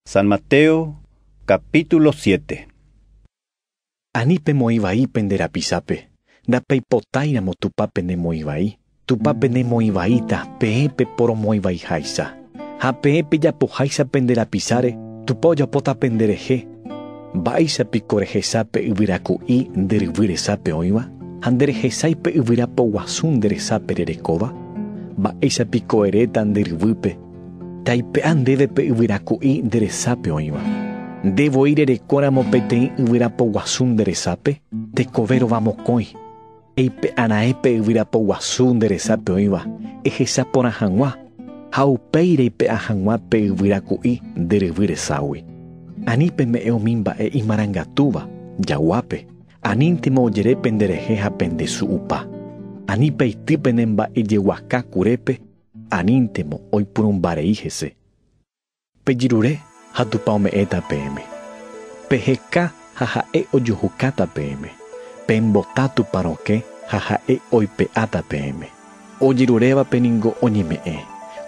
San Mateo capítulo siete. Ani pemoĩ vai pende rapichape, ndapeipotáiramo Tupã penemoĩ vai, Tupã penemoĩ vaíta peẽ peporomoĩ vaiháicha. Ha peẽ pejapoháicha pende rapicháre, Tupã ojapóta penderehe. Mba'éicha piko rehecha pe yvyra ku'i nde ryvy resápe oĩva, ha nderehechái pe yvyra poguasu nde resápe rerekóva? Mba'éicha piko eréta nde ryvýpe, Taipe'a ndéve pe yvyraku'i nde resápe oĩva. Nde voi rerekóramo peteĩ yvyrapo guasu nde resápe, tekove rova mokõi. Eipe'a raẽ pe yvyrapo guasu nde resápe oĩva, ehecha porã hag̃ua, ha upéi reipe'a hag̃ua pe yvyraku'i nde ryvy reságui. Ani peme'ẽ umi mba'e imarangatúva, jaguápe, aníntema ojere penderehe ha pendesu'upa. Ani peity pene mba'ejeguaka kurépe, Aníntemo oipurũmba rei hese. Pejirure ha Tupã ome'ẽta peẽme. Peheka ha ha'e ojuhukáta peẽme. Pembota Tupã rokẽ ha ha'e oipe'áta peẽme. Ojerurévape ningo oñeme'ẽ,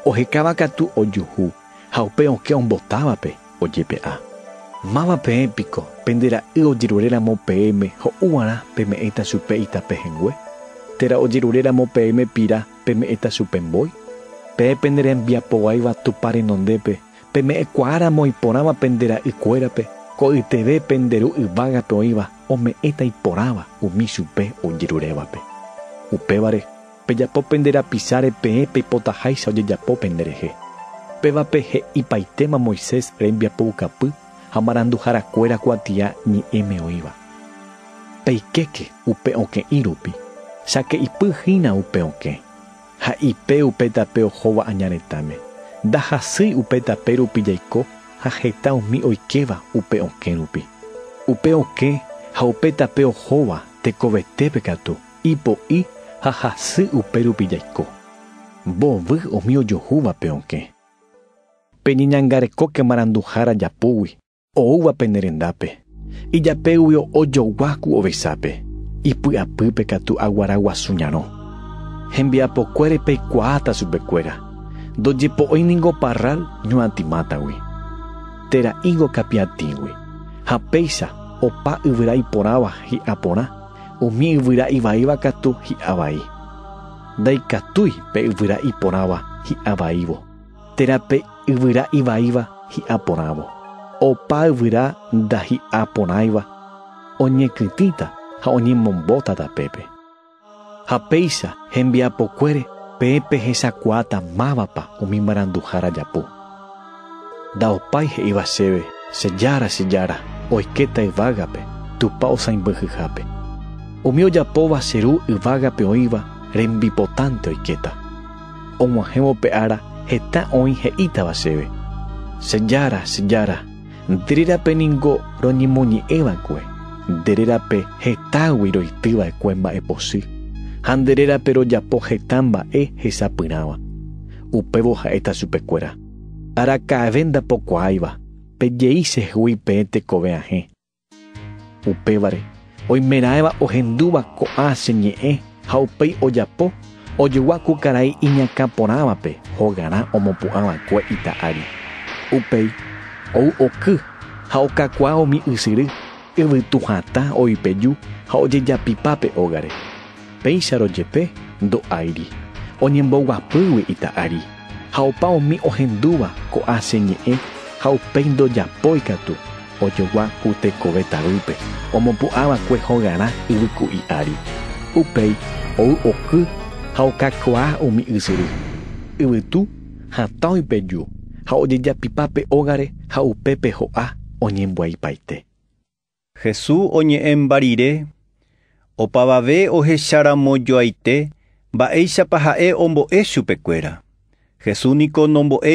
ohekáva katu ojuhu ha upe okẽ ombotávape ojepe'a. Máva peẽ piko pende ra'y ojerure ramo peẽme ho'u g̃uarã peme'ẽta chupe itape hengue? Térã ojerure ramo peẽme pira Peme'ẽta chupe mbói. Peẽ pende rembiapoguáiva Tupã renondépe, peme'ẽkuaáramo iporãva pende ra'y kuérape, ko'yteve pende ru yvágape oĩva ome'ẽta iporãva umi chupe ojerurévape. Upévare, pejapo pende rapicháre peẽ peipotaháicha ojejapo penderehe. Pévape he'ipaitéma Moisés rembiapoukapy, ha maranduharakuéra kuatia ñe'ẽme oĩva. Peikéke upe okẽ'i rupi, sake'ipy hína upe okẽ, ha ipe upe tape ohóva aña retãme, ndahasýi upe tape rupi jaiko ha heta umi oikéva upe okẽ rupi. Upe okẽ ha upe tape ohóva tekovetépe katu ipo'i ha hasy upe rupi jaiko, mbovy umi ojohúva pe okẽ. Peñeñangarekóke maranduha rajapúgui, oúva pene rendápe, ijapégui o'o jogua ku ovechápe, ipy'apýpe katu aguara guasu ñarõ. Hembiapokuére peikuaáta chupekuéra, ndojepo'ói ningo parral ñuatĩ mátagui, térã higo kapiatĩgui, ha péicha opa yvyra iporãva hi'a porã, umi yvyra ivaíva katu hi'a vai. Ndaikatúi pe yvyra iporãva hi'a vaívo. Térã pe yvyra ivaíva hi'a porãvo. Opa yvyra ndahi'a porãiva oñekytĩta ha oñemombóta tapépe. Ha péicha hembiapokuére peẽ pehechakuaáta mávapa umi maranduhára japu. Ndaopái he'íva chéve, Che jára, che jára, oikéta yvágape, Tupã osãimbyhyhápe. Umi ojapóva che Ru yvágape oĩva rembipotánte oikéta. Og̃uahẽvo pe ára heta oĩ he'ítava chéve, Che jára, che jára, nde rérape ningo roñemoñe'ẽ va'ekue, nde rérape hetágui roity va'ekue mba'epochy, ha nde rérape rojapo heta mba'e hesapyrãva. Upévo ha'éta chupekuéra, Araka'eve ndapokuaáiva, pejei chehegui peẽ tekove ahẽ, Upévare, oimeraẽva ohendúva ko'ã che ñe'ẽ ha upéi ojapo, ojogua ku karai iñakã porãvape hogarã omopu'ã va'ekue ita ári. Upéi, ou oky ha okakuaa umi ysyry, yvytu hatã, oipeju ha ojejapipa pe ógare. Péicharõ jepe ndo'áiri oñemboguapýgui ita'ari, ha opa umi ohendúva ko'ã che ñe'ẽ ha upéi ndojapói katu, ojogua ku tekove tavýpe omopu'ã va'ekue hogarã yvyku'i ári. Upéi ou oky ha okakuaa umi ysyry, yvytu, hatãgui pe ju, ha ojejapipa pe ógare ha upépe ho'a oñembyaipaite. Hesu oñe'ẽ mba rire, opavave ohecha ramo joaite mba'éichapa ha'e ombo'e chupekuéra. Hesu niko nombo'e.